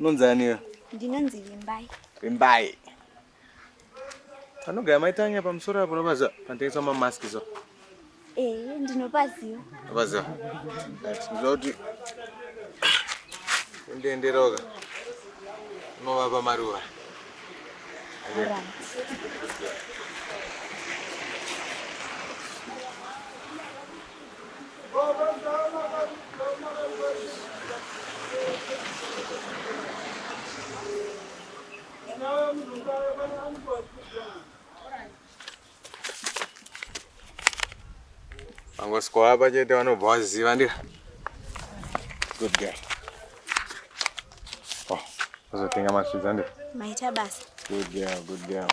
Nonzaniyo. Ndinonzi Vimbai. Vimbai. Anogaya maitanya pamusoro apo nobaza panotengesa mamask so. Eh, ndinopaziva. Apaziva. Ndoti undienderoka. Unovapa maruva. Right. vangosvikawo apa chete vanobva vaziva ndira good girl oh vazotenga masvidza ndira maita basa good girl good girl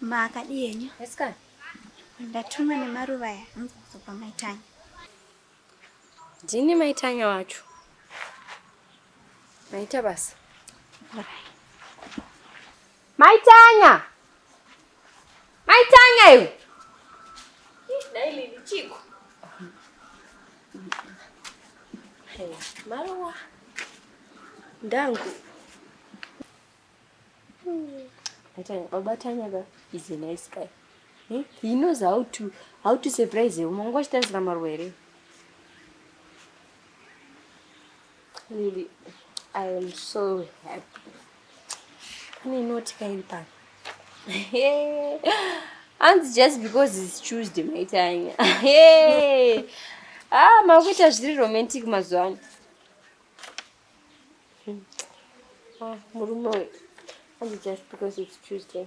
Maakadii henyu? Yes, ka. Ndatumwa nemaruva aya hanzi kuzopa maitanya. Ndini maitanya wacho. Maita basa. Maitanya! Mai Tanya iwe. Dai Lili chiko. Maruwa. Ndangu. Atanga baba Tanya ba is a nice guy. Hmm? He knows how to how to surprise you. Mungu achitarisira maruwa here? Really, I am so happy. Pane inoti kairi pano. Hanzi just because it's Tuesday maitanya. Hey. Ah, makuita zviri romantic mazuva ano. Hmm. Ah, murume uyu. Hanzi just because it's Tuesday.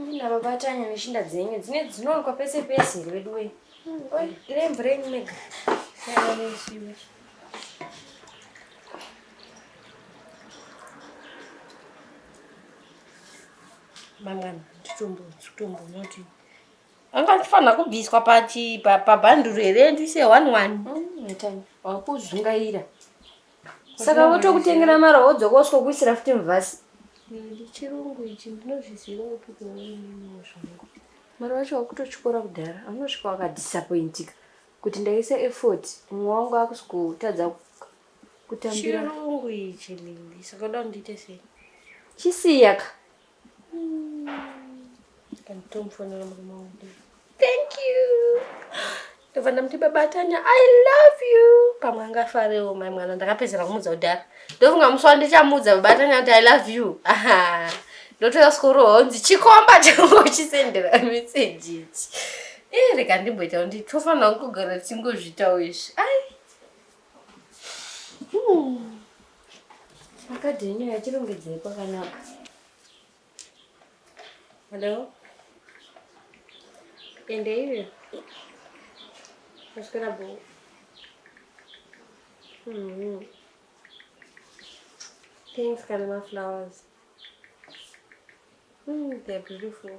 ndinavabatanya neshinda dzenyu dzine dzinowanikwa pese pese here veduwe ire mvura yenyu mega mangani titombonotii anga ndifanira kubviswa pabhanduru here ndiise one one mm, wakuzungaira saka votokutengera mara wodzoka usikokuisira futi muvhasi chirungu ichi ndinozviziva upi kuvaininiwo zvangu mari wacho wakutotyora kudhara anosvika wakadisappointika kuti ndaisa effort mumwe wangu akusikutadza kutambira chirungu ichi lili saka uda kundiite sei chisiyaka Thank you. Ndobva ndamuti baba Tanya, I love you. Pamwe angafarewo mai mwana ndakapedzera kumudza kudhara. Ndofunga musi wandichamudza baba Tanya kuti I love you. Aha. Ndotoda skoro honzi chikomba changu chisendera message ichi. Eh rega ndimboita kuti tofanira kugara tingozvitawo izvi. Ai. Akadhi yenyu yachirongedzei kwakanaka. Hello? Ende iwe. Maswera bo. Mm-hmm. Thanks, Kanama Flowers. Mm, they're beautiful.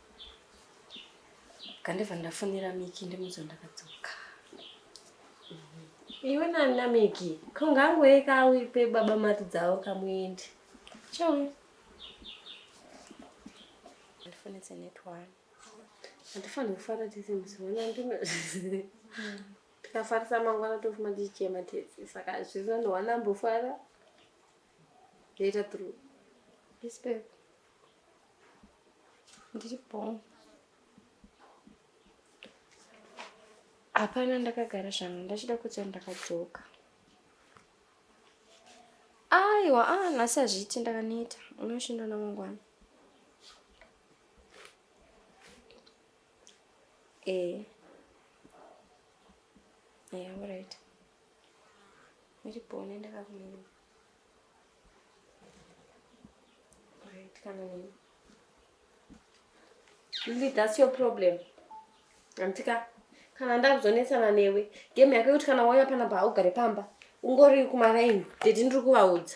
Kandibva ndafonera Miki ndimudzo ndakadzoka. Iwe nani na Miki? Kungangoe kawi pe baba mati dzawo kamuende. Chauya. Ndifonetse netwani. Hatifanire kufara tese musi wona ndino. Tikafarisa mangwana tofuma tichichema tese. Saka hazviri nani wana mbofara. Later through. Respect. Ndipo. Hapana ndakagara zvangu ndachida kutsa ndakadzoka. Aiwa, ah nhasi hazviiti ndakaneta. Unoshinda namangwana. Eh. Yeah, all right. Ndipo nenda kakumira. Lily, that's your problem. Antika, kana ndakuzonetsana newe, game yako yekuti kana wauya panapa haugare pamba, ungori kumaraini, dede ndiri kuvaudza.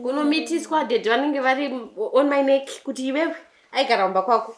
Kunomitiswa dede vanenge vari on my neck kuti iwewe aigara kumba kwako.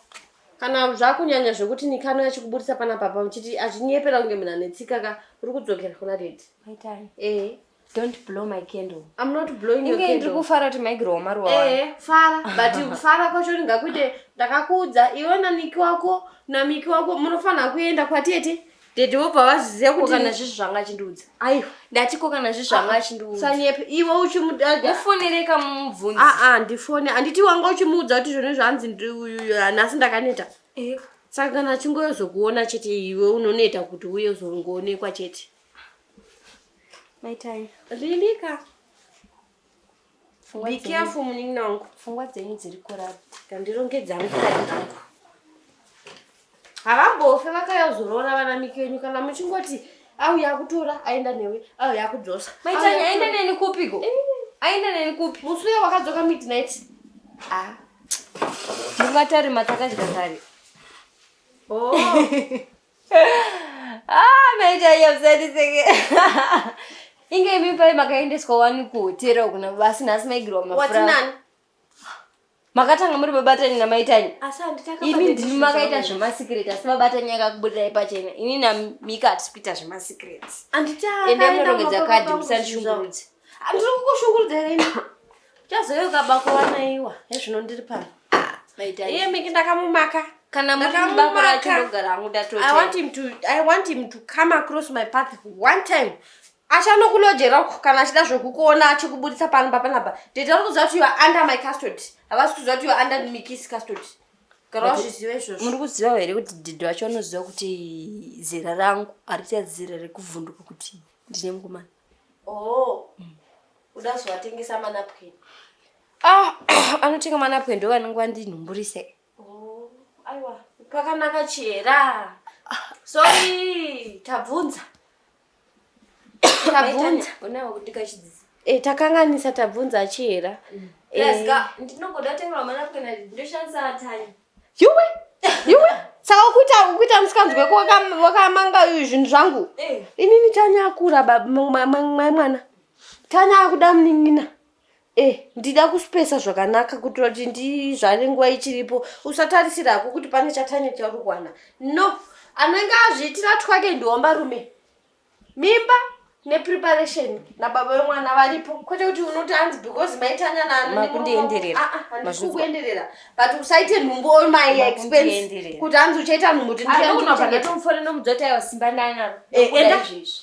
Kana zvakunyanya zvekuti nikano yachikuburitsa panapa pamba chiti achinyepera kunge munhu anetsika ka, uri kudzokera kuna dede. Maitai. Eh. don't blow my candle i'm not blowing your candle ndiri kufara kuti maigirowa maruwa eh fara but kufara kwacho ndingakuite ndakakuudza iwe na niki wako na miki wako munofanira kuenda kwatete dede vobva vaziziva kuti kana zvi zvanga achindiudza aiwa ndati ko kana zvi zvanga ah, achindiudza sanyepe iwe uchimudada ufonereka mubvunzi aa ah, ah, ndifone handiti wanga uchimuudza kuti zvone zvanzi nhasi ndakaneta eh. saka kana achingoyozokuona chete iwe unoneta kuti uye uzongoonekwa chete Mai Tanya. Lilika. Be careful munin'ina wangu. Pfungwa dzenyu dziri kurara. Ndandirongedza mukati wangu. Havambofe vakaya kuzoroora vanamiki venyu kana muchingoti auya kutora aenda newe auya kudzosa. Mai Tanya aenda neni kupi go? Aenda neni kupi? Musi uya wakadzoka midnight. Ah. Mungatari matakadya kare. Oh. ah, maichaiyausandiseke inge imi pai makaendeswa wani kuhotera uku nabasi nhasi maigirwa mafura makatanga muri babatanyi namaitanyi imi ndimi makaita zvemasikireti asi babatanyi akakubudirai pachena ini namika hatisi kuita zvemasikireti ende munorongedza kadhi musandishungurudze ndiri kukushungurudza rini Chazouka bako wanaiwa hezvino ndiri pano. Maita iye miki ndakamumaka. Kana mukabako racho ndogara hangu ndatote. I want him to I want him to come across my path one time. Achanokulojera uko kana achida zvokukuona achikuburitsa pano papanapa. Tete vari kuziva kuti you are under my custody. Havasi kuziva kuti you are under Miki's custody. Gara wazviziva izvozvo. Muri kuziva here kuti didi vacho vanoziva kuti zera rangu harichazera rekuvhunduka kuti ndine mukomana. Oh. Mm. Uda zvawatengesa manapkin. Ah, anotenga manapkin ndo vanenge vandinhumburise. Oh, aiwa. Pakanaka chera. Sorry, tabvunza. Tabvunza. Unawo kuti kachidzisa. Eh, takanganisa tabvunza chera. Mm. Eh, ndinongoda tenga manapkin ndoshandisa atanya. yuwe yuwe saka ukuita ukuita musikanzwe wakamanga zvinhu zvangu eh. inini tanya akura mai mwana tanya akuda munin'ina e ndida kuspesa zvakanaka kuitira kuti ndizvane nguva ichiripo usatarisira hako kuti pane chatanya chauri kuwana no anenge azviitira twake ndihomba rume mimba nepreparation nababa vemwana varipo kwete kuti unoti anzi because maitanya naanokuenderera but usaite nhumbu or my expense kuti anzi uchaita nhumbu tinomudzotaiwasimbananaro eh,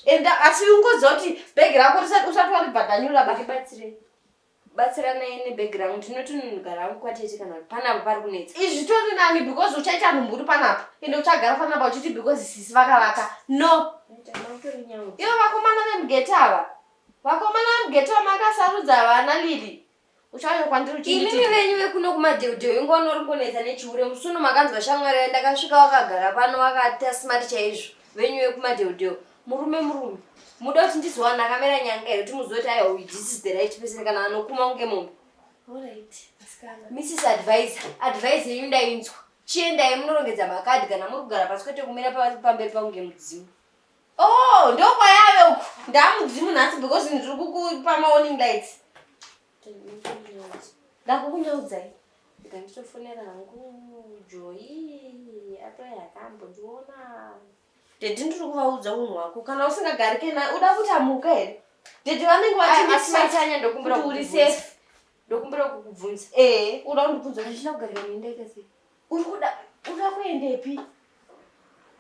enda asi ungoziva kuti bhegi rako usati waribhadhanyura babatsirei batsiranai nebhegi rangu ndinotononogara hangu kwatete kana kuti panapa pari kunetsa izvi zvitori nani because uchaita mumhuri panapa ende uchagara panapa uchiti because sisi vakavaka no ivo vakomana vemugeti ava vakomana vemugeti ava makasarudza vana lili uchauya kwandiri uchiinini venyu vekuno kumadheudheu ingoona uri kunetsa nechihure musuno makanzwa shamwari yandakasvika wakagara pano wakati asimati chaizvo venyu vekumadheudheu murume murume muda kuti ndizowana akamera nyanga here kuti muzive kuti aiwa this is the right person kana anokuma kunge mombe mrs advisor advisor yenyu ndainzwa chiendai munorongedza makadhi kana muri kugara pasi kwete kumira pamberi pakunge mudzimu o oh, ndokwayave uku ndamudzimu nhasi because ndiri kukupa maoning lights ndakukunyaudzai ndanditofonera hangu joyi atoyakambondiona Daddy ndiri kuvaudza unhu hwako kana usingagarike naye uda kuti amuka here? Daddy vanenge vatimaitanya ndokumbira kuti uri safe. Ndokumbira kukubvunza. Eh, uda kundibvunza kuti ndina kugarika muindaika sei? Uri kuda uda kuendepi?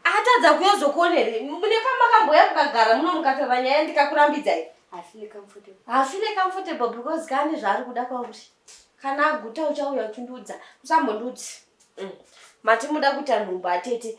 Atadza kuyozokuonere. Mune pamakamboya kukagara muno mukataura nyaya ndikakurambidzai. I feel comfortable. I feel comfortable because kani zvaari kuda kwauri. Kana aguta uchauya uchindiudza. Usambondiudzi. Mm. Mati muda kuita nhumbu atete.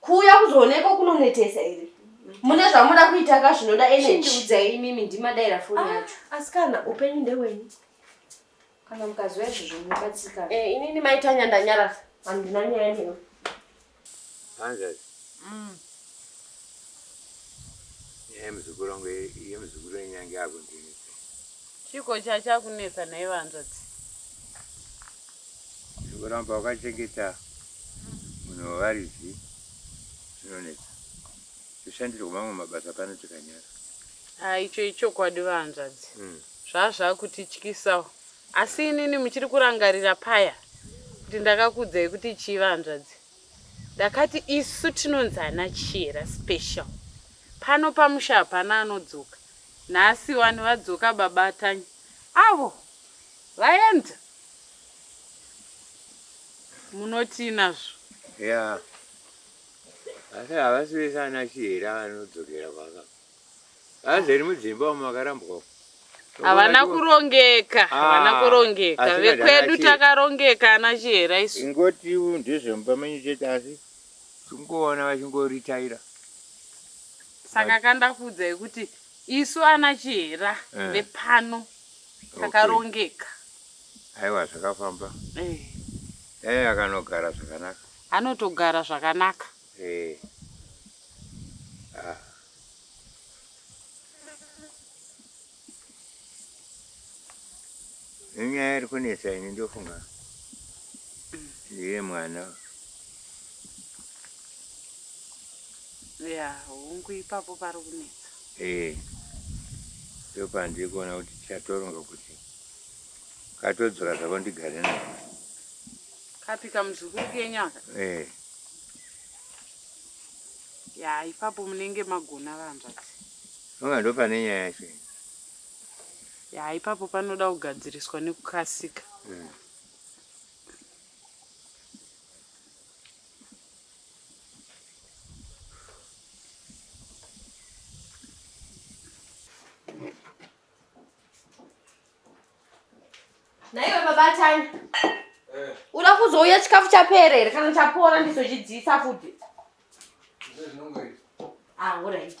Kuuya kuzoonekwa kunonetesa here? Mune zvamuda kuita ka zvinoda energy. Chindiudzai imimi ndimadaira foni ah, yacho. Asikana upenyu ndewenyu. Kana mukaziva izvozvo munobatsika. Eh, inini maitanya ndanyarasa. Handina nyaya newe. Hanzvadzi. Mm. Nyaya yemuzukuru wangu yemuzukuru wenyange akundinetsa. Chiko chachakunetsa nhaiva hanzvadzi. Kuramba wakachengeta munhu wevaridzi zvinonetsa. Toshandirwa mamwe mabasa pano tikanyara. Ah, icho ichokwadi vahanzvadzi. Mm. Zvaa zvakutityisawo. Asi inini muchiri kurangarira paya kuti ndakakudzai kuti chii vahanzvadzi. Ndakati isu tinonzi ana Chiyera special. Pano pamusha hapana anodzoka. Nhasi wani vadzoka baba Tanya. Avo vaenda. Munotii nazvo? Yeah. Asi havasi vese ana chihera vanodzokera kwaka. Vazeri mudzimba umo vakarambwa. Havana kurongeka, ah, havana kurongeka. Vekwedu takarongeka ana chihera isu. Ingoti ndezvemumba menyu chete asi tingoona vachingoritaira. Saka kanda kuudzai kuti isu ana chihera eh. vepano kakarongeka aiwa zvakafamba eh. eh, akanogara zvakanaka anotogara zvakanaka eh. ah. inyaya iri kunetsa ini ndofunga ndiye mwana Yeah, hungu ipapo pari kunetsa. Eh. Ndipo pandiri kuona kuti tichatoronga kuti katodzora zvako ndigare nako. Kapi kamuzukuru kenyu aka? Eh. Ya, ipapo munenge magona vahanzvadzi. Unga ndo pane nyaya yacho. Ya, ipapo panoda kugadziriswa nekukasika. Mm. naiwe babatani eh. uda kuzouya chikafu chapera here kana chapora ndizochidziisa futi ah, orit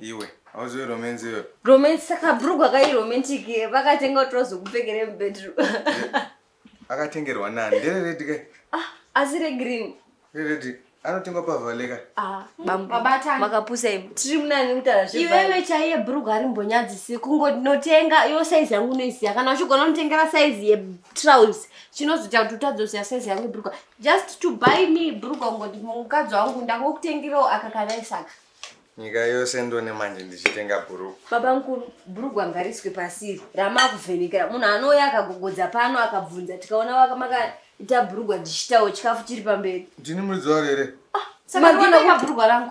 iwe hauziwe romance iwe romance saka brugwa kai romantic vakatenga kuti vazokupfekere mubedroom akatengerwa nani ndere redi kai ah, asi regreen reredi anotengwa pavaleka ah, makapusa imi tiri munani mutara iwewe chaiye brugwa ari mbonyadzisi kungonotenga yo saizi yangu unoiziva kana uchigona unotengera saizi yetrouse chinozoita kuti utadzoziva saizi yangu brugwa just to buy me brugwa kungoti mukadzi wangu ndangokutengirawo aka kanaisaka nyika yose ndone manje ndichitenga bhurugwa baba mukuru bhurugwa ngariswe pasiri ramakuvhenekera munhu anouya akagogodza pano akabvunza tikaona vakamakaita bhurugwa ndichitawo chikafu chiri pamberi ndini muridzi waro here ah, saka ndinoka bhurugwa rangu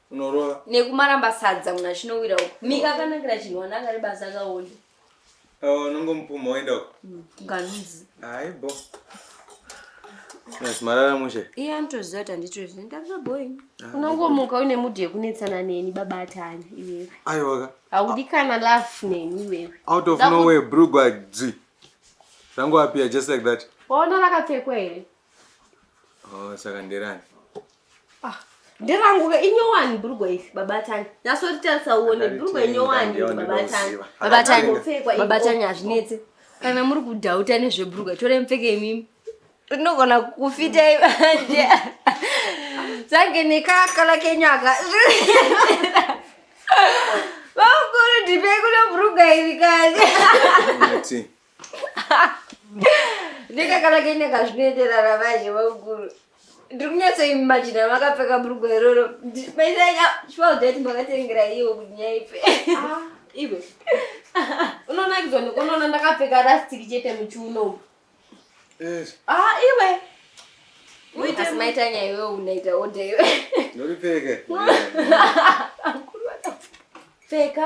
unorova nekumaramba sadza mwana chinowira uko mika akanakira chinhu wana akari basa akaonda unongomupuma woenda uko mm, nganzi aibo marara mushe iye anotoziva kuti handitozivi ndava boy ah, unongomuka uine mudhi yekunetsana neni baba atanya iwewe aiwaka haudi kana laf neni iwewe out of nowhere brugwa dzi rangu apia just like that waona rakapfekwa here oh, saka nderani Ah, nderangu ke inyowani bhurugwa iri babatani nasotitarisa uone bhurugwa inyowani iri babatani babatani Akangopfekwa iri. babatani hazvinetse kana muri kudhauta nezvebhurugwa tore mupfeke imimi rinogona kufita manje zange nekakala kenyaka vakuru ndipei kuno bhurugwa iri kani Nati, ndikakanaka inenge zvinoenderana manje vakuru ndiri kunyatsoimajina makapfeka bhurugwa iroro maisaiaudati makatengera iwo kuti nyaipe ah, iwe unonakidzwa nekunoona ndakapfeka rastiki chete muchiuno ah, iwe asi maitanya iwe unaita odha iwe ndoripfeke pfeka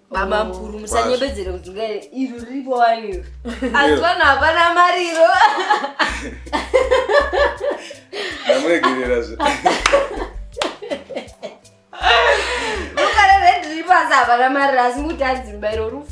Baba mkuru musanyebedzere kuti ngai iro riripo wani iro. Asi vanhu hapana mari iro. Ndamuregerera zve. Mukare red riripo asi hapana mari asi kuti adzimba iro rufu.